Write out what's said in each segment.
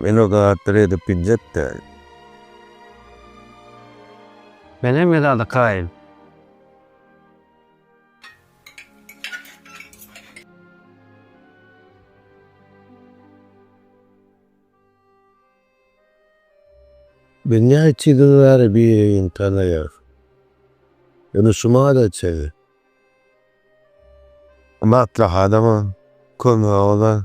Men o zatlary edip biljek däl. Menem el adykaýyn. Men näçe ýyl bäri biri-birini tanaýarys. Indi şuma-da çenli. Maslahatyňa kömegi bolar.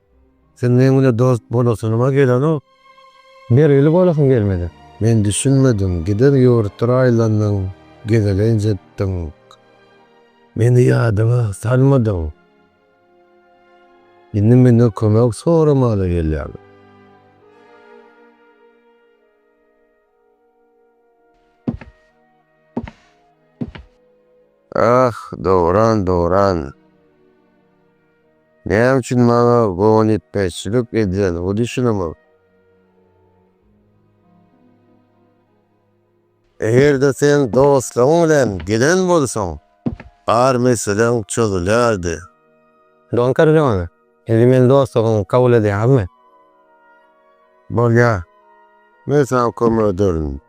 Sen meň bilen dost bolasynyma gelenok. Bergili bolasyň gelmedi. Men düşünmedim. Giden ýurtdyr aýlandyň, gezelenç etdiň. Meni ýadyňa salmadyň. Indi menden kömek soramaga gelýäň. Ah, Dowran, Dowran! Näme üçin maňa bogunýetmezçilik edýän bu düşünimiň? Eger-de sen dostlaryň bilen gelen bolsaň, bar meseleň çözülýärdi. Don Korleone, indi meni dostlugyňy kabul edýäňizmi? Bolýar. Men saňa kömek ederin.